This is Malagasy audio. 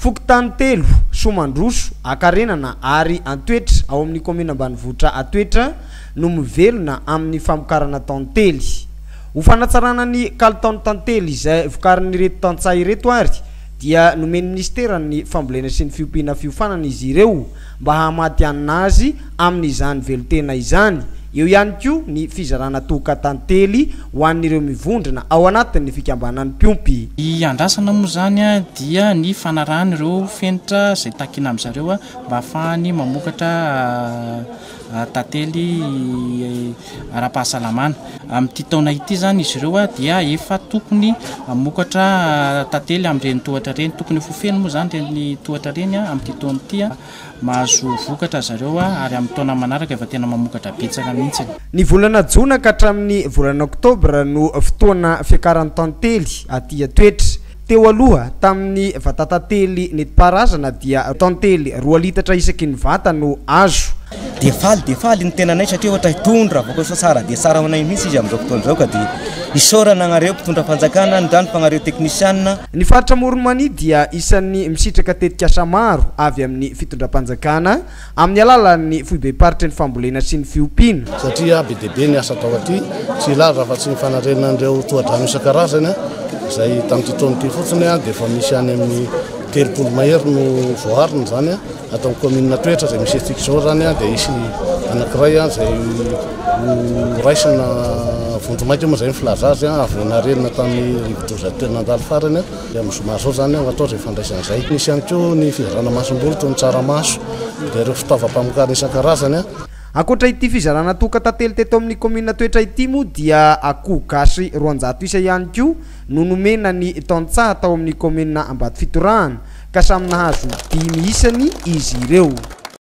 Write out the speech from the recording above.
Fokontany telo, Soamandroso, Ankarenana ary Antoetra ao amin'ny kaominina ambanivohitra Antoetra no mivelona amin'ny famokarana tantely. Ho fanatsarana ny kalitaon'ny tantely izay vokarin'ireto tantsaha ireto ary dia nomen'ny minisiteran'ny Fambolena sy ny fiompiana fiofanana izy ireo mba hahamatihanina azy amin'izany velon-tena izany. Eo ihany koa ny fizarana tohoka tantely ho an'ireo mivondrona ao anatin'ny fikambanan'ny mpiompy. Ny iandrasana moa izany dia ny fanarahana ireo fenitra izay takina amin-dry zareo mba hahafahany mamokatra tantely. ara-pahasalamana. Amin'ity taona ity izany izy ireo dia efa tokony hamokatra tantely amin'ireny tohatra ireny. Tokony ho feno moa izany ireny tohatra ireny amin'ity taona ity. Mahazo vokatra ry zareo ary amin'ny taona manaraka efa tena mamokatra betsaka mihitsy. Ny volana jona ka hatramin'ny volana oktobra no fotoana fiakaran'ny tantely aty an-toetra. Teo aloha, tamin'ny vatatantely nentim-paharazana dia tantely roa litatra isaky ny vata no azo. Dia faly dia faly ny tenanay satria ohatra hitony raha voakosoka tsara dia tsara ho anay mihitsy izy amin'izao fotoana izao ka dia isaorana anareo mpitondram-panjakana, ny rano mpagnareo teknisiana. Ny faritra Amoron'i Mania dia isan'ny misitraka tetikasa maro avy amin'ny fitondram-panjakana. Amin'ny alalan'ny foibem-paritry ny fambolena sy ny fiompiana. Satria be dia be ny asa atao aty, tsy hilaza afa-tsy ny fanariana an'ireo tohadrano isan-karazany, izay tamin'ity taona ity fotsiny dia efa misy any amin'ny telopolo mahery no voaarina izany. Ato amin'ny kaominina Toetra izay misy antsika izao izany dia hisy anankiray izay ho raisina vonjimaika moa izay ny filaza azy, avy nanariana tamin'ny rivodoza teo nandalo farany. Dia amin'ny zoma izao izany angamba atao izay fandraisana izay. Misy ihany koa ny fizarana masomboly toy ny tsaramaso, dia ireo fitaovam-pamokarana isan-karazany. Ankoatra ity fizarana toaka tantely teto amin'ny kaominina Toetra ity moa dia akoho gasy roanjato isa ihany koa no nomena ny tantsaha tao amin'ny kaominina Ambatofitorahana ka samy nahazo dimy isany izy ireo.